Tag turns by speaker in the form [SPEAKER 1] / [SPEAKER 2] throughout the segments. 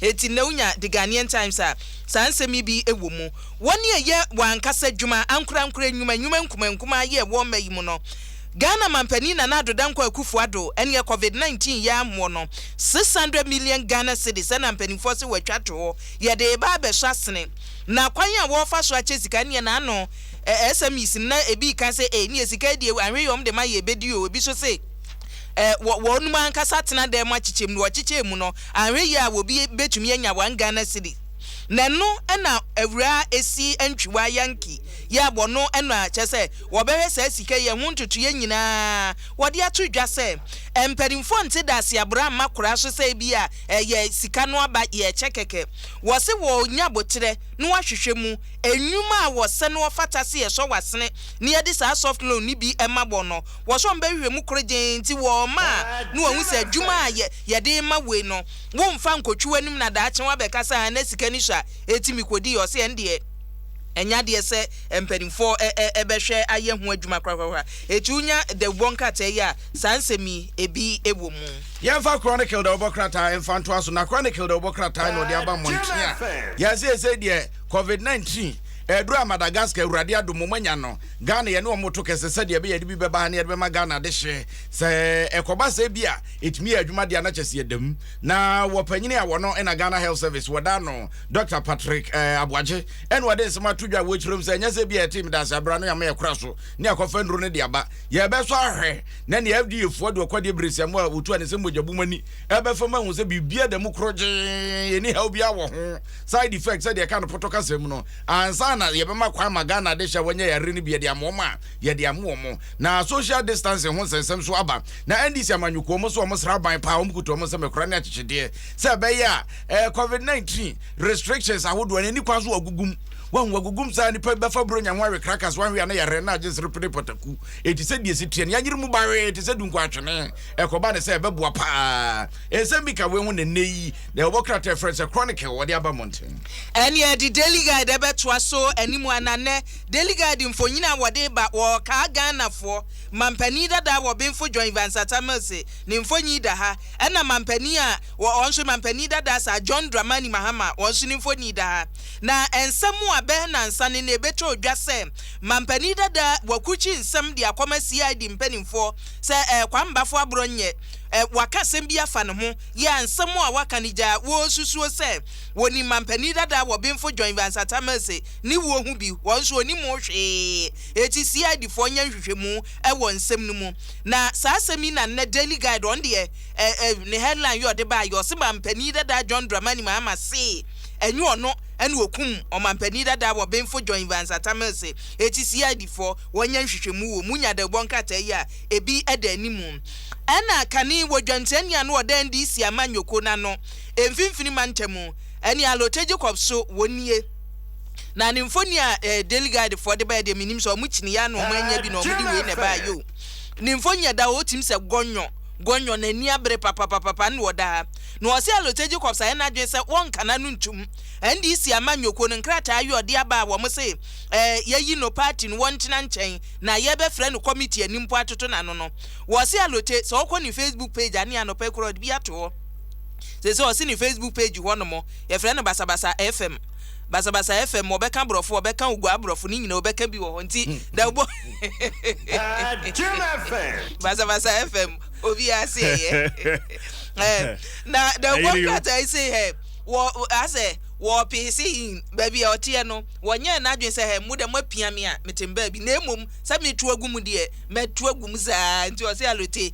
[SPEAKER 1] Enti nnɛ wonya The Ghanaian Times a, saa nsɛm yi bi wɔ mu. Wɔn a ɛyɛ wɔn ankasa adwuma, ankorankorɛ nnwuma, nnwuma nkumankumaa yɛ wɔ mma yi mu no, Ghana Mampanin Nana Addo Dankwa Akufo Addo neɛ Covid 19 yɛ amoɔ no, 600 million Ghana cedis ɛna mpaninfoɔ se wɔatwa to hɔ, yɛde reba abɛsɔ asene. Na kwan a wɔrefa so akyɛ sika neɛ n'ano eh, SMEs no na ebi reka sɛ eh, neɛ sika yi deɛ anhwɛ yɛ wɔde ma yɛ bɛdi o, ebi nso se eh, wɔ wɔnom ankasa atena dan mu akyekyɛ mu, na wɔkyekyɛɛ mu no, Anhwɛ yie a wobi bɛtumi anya one Ghana cedi na ɛno na awuraa ɛsi ntwiwaa Yankee yi a wɔno na kyerɛ sɛ wɔbɛhwɛ saa sika yi ɛho ntotoeɛ nyinaa wɔde ato dwa sɛ mpaninfoɔ nte dase aborɔ amma koraa so sɛ ebia ɛyɛ sika no aba yɛ ɛkyɛ kɛkɛ wɔse wɔnya boterɛ na wɔahwehwɛ mu nnwuma a wɔsɛ na wɔfata se yɛsɔ w'asene na yɛde saa soft loan no bi ma wɔn no wɔse wɔbɛhwehwɛ mu korogyenn nti wɔma na wɔhu sɛ adwuma a yɛ yɛde rema woi no wo nfa nkotwi w'anim na daakye wabɛka sɛ aah na sika ni so a eti me kɔdi yɛ ɔse ɛndeɛ ɛnyɛ adeɛ sɛ mpaninfoɔ ɛ ɛ ɛbɛhwɛ ayɛ ho adwuma korakorakora eti wonya dawubɔ nkrataa yi a saa nsɛm yi ebi wɔ mu. Yɛnfa Chronicle
[SPEAKER 2] dawubɔ krataa nfa ntoa so na Chronicle dawubɔ krataa na ɔde aba mmɔnten a yɛn seesei deɛ covid nineteen ɛreduru a Madagascar awurade adom mo moanya no Ghana yɛne wɔn reto kɛse sɛdeɛ ɛbɛyɛ ɛde bi bɛba ha na yɛde bɛma Ghana adehyeɛ sɛ ɛkɔba sɛ bi a Ɛtumi yɛ adwuma deɛ a na kyɛ sɛ yɛda mu. Na wɔ panyini a wɔ no na Ghana Health Service wɔda no Dɔkta Patrick eh, Aboagye ɛna ɔde nsɛm ato dwa wɔ akyire mu sɛ ɛnyɛ sɛ bi a ɛte medase abira no yɛama yɛkora so ne akɔfa nnuro no de aba. Yɛbɛsɔ ahwɛ na nea FDA foɔ de ɔkwadeɛ beresiamo a wɔtu a ne sɛ mogya bum ani ɛbɛfa mu ahu sɛ biribiara da mu korogyee ɛni haw biara wɔ ho side effect sɛdeɛ ɛka no pɔtɔ kasa mu no ansa na yɛbɛma kwan ma Ghana de hyɛ wɔnyɛ yare no bi yɛde ama wɔn a yɛde ama wɔn na social distancing ho nsɛnsɛm so aba Na NDC amanyɔkuo wɔn nso wɔn sra aban paa, wɔn kuta wɔn nsam akura ne akyekyedeɛ sɛ ɛbɛyɛ a ɛɛ covid 19 restrictions ahodoɔ no ani kwan so wɔagugum wɔn wɔagugum saa nipa bɛfa buronya ho awe krakas wɔn ahwe ana yɛrɛ na agye nsere pene pɔtaku eti sɛ deɛ si teɛ no yɛnyere mu bawee te sɛ dunkɔ atwene ɛkɔba ne sɛ ɛbɛboa paa nsɛm bi ka wei ho na nnɛ yi na ɛwɔ krataa ɛfrɛ sɛ chronic wɔde aba mmɔnten ɛneɛ de daily
[SPEAKER 1] guide ɛbɛtoa so anim ananɛ daily guide mfonyin a wɔde ba wɔɔkaa ghanafoɔ Mampanin dadaa wɔ Benfo John Evans Atta Mills ne mfonyin da ha, ɛna mampanin a wɔ hɔ nso Mampanin dadaa Sir John Dramani Mahama hɔn nso ne mfonyin da ha. Na nsɛm a bɛyɛ nnansa no na ebetwa odwa sɛ Mampanin dadaa wɔakrukyi nsɛm de akɔma CID mpanimfoɔ sɛ ɛɛ Kwambafo aborɔ nyɛ ɛ wɔaka asɛm bi afa ne ho yɛ a nsɛm a wɔaka no gyaa wɔresusuo sɛ wɔnim Mampanin dadaa wɔ Benfo John Evans Atta Mills ne wuo ho bi, hɔn nso wɔnim ho hwee. Enti CIDfoɔ nyɛ nhwehwɛmu wɔ nsɛm no mu. Na saa asɛm yi na nnɛ Daily Guide ɔno deɛ ɛ ɛ ne headline yɛ ɔde baeɛ, ɔse Manpanin dadaa John Dramani Mahama se ɛnyɛ ɔno na ɔkum Ɔmanpanin dadaa wɔ Benfo John Evans Atta Mills se eti CIDfoɔ wɔnyɛ nhwehwɛmu wɔ mu nya dawubɔ nkrataa yi a ebi da anim. Ɛna kane wɔ dwansiani ano ɔda NDC amanyɔkuo no ano mfimfini mantam ne Alote Jacob so wɔn nie. Na ne mfoni a eh, Daily Guide foɔ de baɛ deɛ menim sɛ ɔmo kyini yɛ ana ɔmo anya bi na ɔmo de wei na ɛbaɛ yoo. Ne mfoni yɛ da hɔ ɔtim sɛ gɔnyɔ, gɔnyɔ, n'ani abere papapapapa na ɔda ha. Na ɔse Alote Jacobs ayɛ n'adwene sɛ wɔnka n'ano ntum. NDC ama Nyoko no nkrataa yi ɔde aba a wɔn se eh, yɛyi no party no wɔntena nkyɛn na yɛbɛfrɛ no committee ani mpo atoto n'ano no. Wɔse Alote sɛ ɔkɔ ne Facebook page a ne anɔpa yi koraa ɔde bi ato hɔ. Sese ɔse ne Facebook page hɔ nom Yɛfrɛ no basabasa FM. Basabasa FM, wɔbɛka brɔfo, wɔbɛka oguaa brɔfo, ne nyinaa wɔbɛka bi wɔ hɔ. Nti da wobɔ basabasa FM, obiara se ɛyɛ. Eh, na da wobɔ krataa yi se hɛ, wɔ, asɛ, wɔpee se hin, baabi a ɔteɛ no, wɔnyɛɛ n'adwene sɛ hɛ, mo dɛ moapia me a, mete mbaabi, na mmom sɛ meto agu mu deɛ, mɛto agu mu saa. Nti ɔse alote.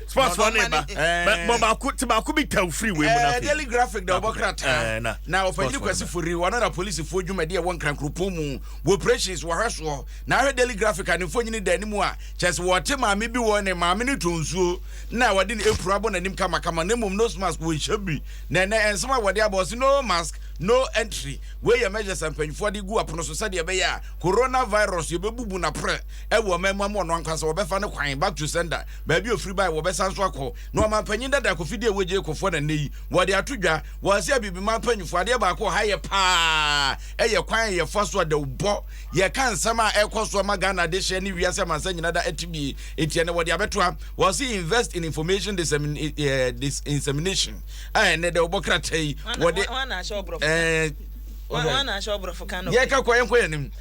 [SPEAKER 3] sports fɔ ne ba bɔ baako ti baako bi taw firi wei mu na afei daily graphic da
[SPEAKER 2] ɔbɔ krataa na ɔpanyini kwasi fori wɔn na polisifoɔ dwumadi ɛwɔ nkrankuropɔn mu wɔ operations wɔhwɛ soɔ na ahwɛ daily graphic a ne mfonyini da anim a kyerɛ sɛ wɔte maame bi wɔ ne maame ne tɔn nsuo na wɔde ne apron abɔ n'anim kamakama na mmom nose mask wɔnhyɛ bi na ɛnɛ nsɛm a wɔde abɔ ɔse no mask no entry wei yɛ measures a mpanyinfoɔ de gu apono so sɛdeɛ ɛbɛyɛ a coronavirus yɛbɛbubu naprɛ ɛwɔ mmamu ama ɔno ankasa wɔbɛfa no kwan back to sender baabi a ofiri bae, wɔbɛsan so akɔ hɔ, na ɔmampanyin dada Kofi Deɛ Wogye Ekofoɔ na nnɛ yi wɔde ato dwa wɔ ase Abibiman mpanyinfoɔ, adeɛ baako wɔ ha yɛ paa ɛyɛ kwan a yɛfa so a dawubɔ yɛka nsɛm a ɛkɔ so ɛma Ghana adehyeɛ ne wiase amansa nyina da ɛte bie enti ɛnɛ wɔde abɛto ha wɔ ase invest in information dissemination a ɛnɛ dawubɔ krataa yi wɔde
[SPEAKER 1] ɛɛ yɛka kɔ yɛnkɔ yɛn anim.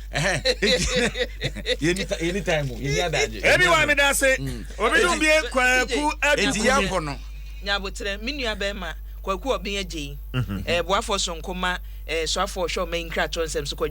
[SPEAKER 2] yɛni time mu yɛni adagye ɛbi wa mi da se
[SPEAKER 3] mm. obi dun bi kwaku adu eti yɛ kɔ no.
[SPEAKER 2] nyabotere mi
[SPEAKER 1] nua bɛɛ ma kwaku ɔbɛn agye yi ɛɛ mhm. eh, boafo sonko ma ɛɛ eh, soafo ɔhwɛ ɔmɛ nkrato nsɛm so kɔ.